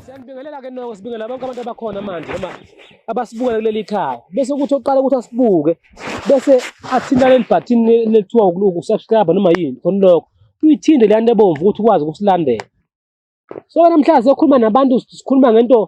Siyanibingelela ke noko sibingelela bonke abantu abakhona manje noma abasibukela kuleli khaya bese kuthi oqala ukuthi asibuke bese athinta leli bhathini lethiwa ukusubscribe noma yini khona lokho uyithinde leyani ebomvu ukuthi ukwazi ukusilandela so namhlanje sokhuluma nabantu sikhuluma ngento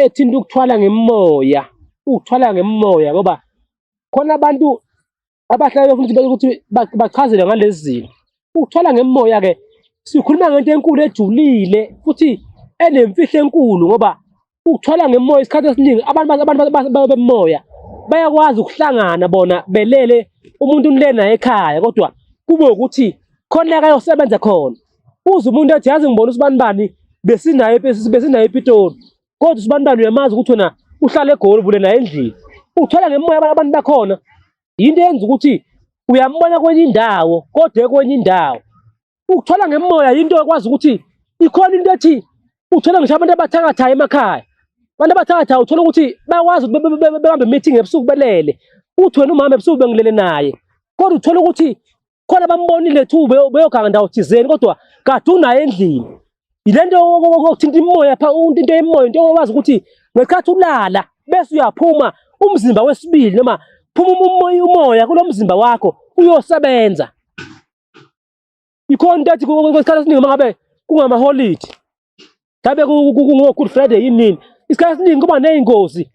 ethinta ukuthwala ngemoya ukuthwala ngemoya ngoba khona abantu abahlale befuna ukuthi ukuthi bachazelwe ngalezi zinto ukuthwala ngemoya ke sikhuluma ngento enkulu ejulile futhi enemfihlo enkulu ngoba ukuthwala ngemoya isikhathi esiningi abantu abantu bemoya bayakwazi ukuhlangana bona belele umuntu unile naye ekhaya kodwa kube ukuthi khona akayosebenza khona uze umuntu athi yazi ngibona usibani bani besinaye besinaye ePitoli kodwa usibani bani uyamazi ukuthi wena uhlala egoli bule naye endlini uthwala ngemoya abantu bakhona yinto yenza ukuthi uyambona kwenye indawo kodwa kwenye indawo ukuthola ngemoya yinto ekwazi ukuthi ikhona into ethi uthole ngisho abantu abathakathayo emakhaya abantu abathakathayo uthole ukuthi bakwazi bebambe meeting ebusuku belele uthi wena umama ebusuku bengilele naye kodwa uthole ukuthi khona bambonile thu beyoganga ndawo thizeni kodwa kade unaye endlini yile nto okuthinta imoya pha into yemoya into owazi ukuthi ngesikhathi ulala bese uyaphuma umzimba wesibili noma phuma umoya kulo mzimba wakho uyosebenza ikhona into ethi kwesikhathi esiningi uma ngabe kungamaholidi ngabe kungo-good friday yini nini isikhathi esiningi kuba ney'ngozi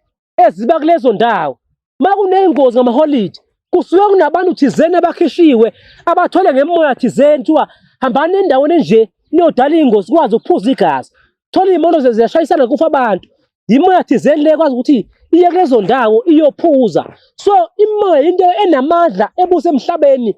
eziba kulezo ndawo uma kuney'ngozi ngamaholidi kusuke kunabantu thizeni abakhishiwe abathole ngemoya thizeni kuthiwa hambani endaweni enje niyodala iy'ngozi kwazi ukuphuza igazi thola iy'moto ziyashayisana kufa abantu yimoya thizeni le kwazi ukuthi iye kulezo ndawo iyophuza so imoya into enamandla ebuse emhlabeni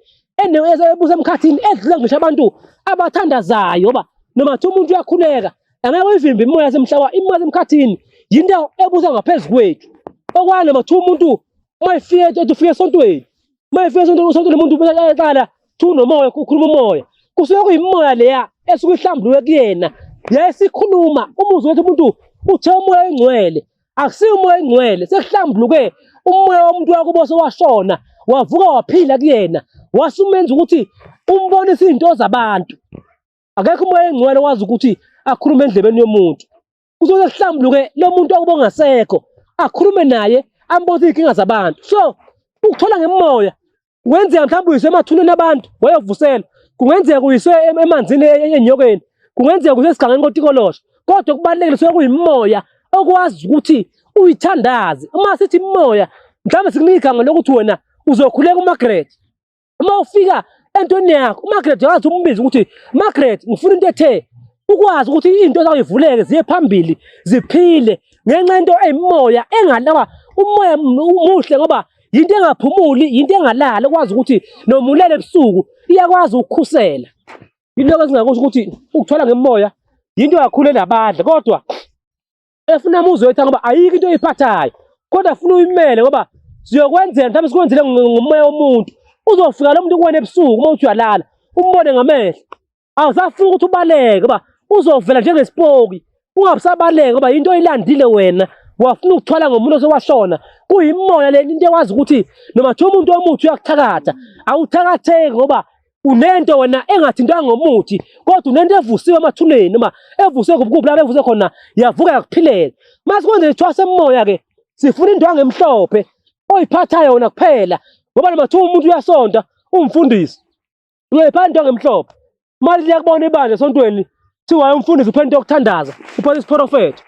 ebuse emkhathini edlula ngisho abantu abathandazayo ba noma kuthiwa umuntu uyakhuleka angeke uyivimbe imoya semhlaba imoya semkhathini yinto ebusa ngaphezu kwethu okwani noma kuthiwa umuntu uma efike ethi ufike esontweni Uma efika sonto usonto lomuntu ubeka yaqala thu nomoya ukhuluma umoya. Kusuke kuyimoya leya esuke ihlambuluke kuyena. Yayisikhuluma umuzwe wethu umuntu uthe umoya engcwele. Akusiyo umoya engcwele sekuhlambuluke umoya womuntu wakubo sewashona wavuka waphila kuyena wasumenza ukuthi umbonise izinto zabantu. Akekho umoya engcwele wazi ukuthi akhulume endlebeni yomuntu. kuzoze kuhlambuluke lo muntu okuba ongasekho akhulume naye ambuze izinkinga zabantu so ukuthola ngemoya kungenzeka mhlawumbe uyiswe emathuneni abantu wayovusela kungenzeka uyiswe emanzini e-, e-, enyokeni kungenzeka uyiswe esigangeni kotikolosha kodwa kubalulekile suke kuyimoya okwazi ukuthi uyithandaze uma sithi imoya mhlawumbe sikunika igama lokuthi wena uzokhuleka uMargaret uma ufika entweni yakho uMargaret wazi umbiza ukuthi Margaret ngifuna into ethe ukwazi ukuthi into zawuyivuleke ziye phambili ziphile ngenxa into eyimoya engalawa umoya umuhle ngoba yinto engaphumuli yinto engalala ukwazi ukuthi nomulele ebusuku iyakwazi ukukhusela yiloko esingakusho ukuthi ukuthola ngemoya yinto kakhulu elabadla kodwa efuna muzi wethu ngoba ayikho into oyiphathayo kodwa funa uyimele ngoba siyokwenzela mhlawumbe sikwenzele ngomoya womuntu uzofika lo muntu kuwena ebusuku uma uthi uyalala umbone ngamehlo awusafuni ukuthi ubaleke ngoba uzovela njengesipoki ungabusabaleke ngoba yinto oyilandile wena wafuna ukuthwala ngomuntu osewashona kuyimoya le into ekwazi ukuthi noma kuthiwa umuntu omuthi uyakuthakatha awuthakatheki ngoba unento wena engathintwa ngomuthi kodwa unento evusiwe emathuneni noma evusiwe kubukuphi lapho evuse khona yavuka yakuphilela mase kwenze ithwase emoya ke sifuna indwangu emhlophe oyiphathayo wona kuphela ngoba noma kuthiwa umuntu uyasonta umfundisi uyoyiphatha indwangu emhlophe mali liyakubona ibandla esontweni kuthiwa umfundisi uphethe into yokuthandaza uphethe isiprofetho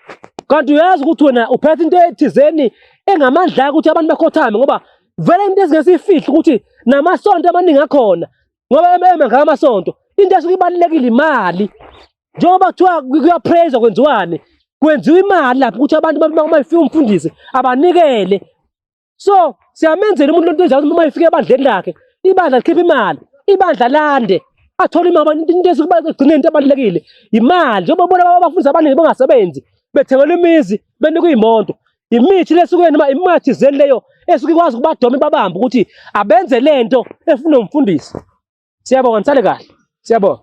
kanti uyazi ukuthi wena uphethe into ethizeni engamandla ukuthi abantu bakhothame ngoba vele into ezingesiyifihli ukuthi namasonto amaningi akhona ngoba ememe ngaka amasonto into esuke ibalulekile imali njengoba kuthiwa kuyapraise kwenziwani kwenziwa imali lapho ukuthi abantu uma ifika umfundisi abanikele so siyamenzela umuntu lento enjalo uma ifika ebandleni lakhe ibandla likhipha imali ibandla lande athole imali abantu into esuke igcine into ebalulekile imali njengoba bona abafundisi abaningi bangasebenzi bethengelwa imizi benikwa iy'moto imithi lesuke noma imimoya thizeni leyo esuke ikwazi ukubadoma ibabamba ukuthi abenze lento efuna umfundisi siyabonga nisale kahle siyabonga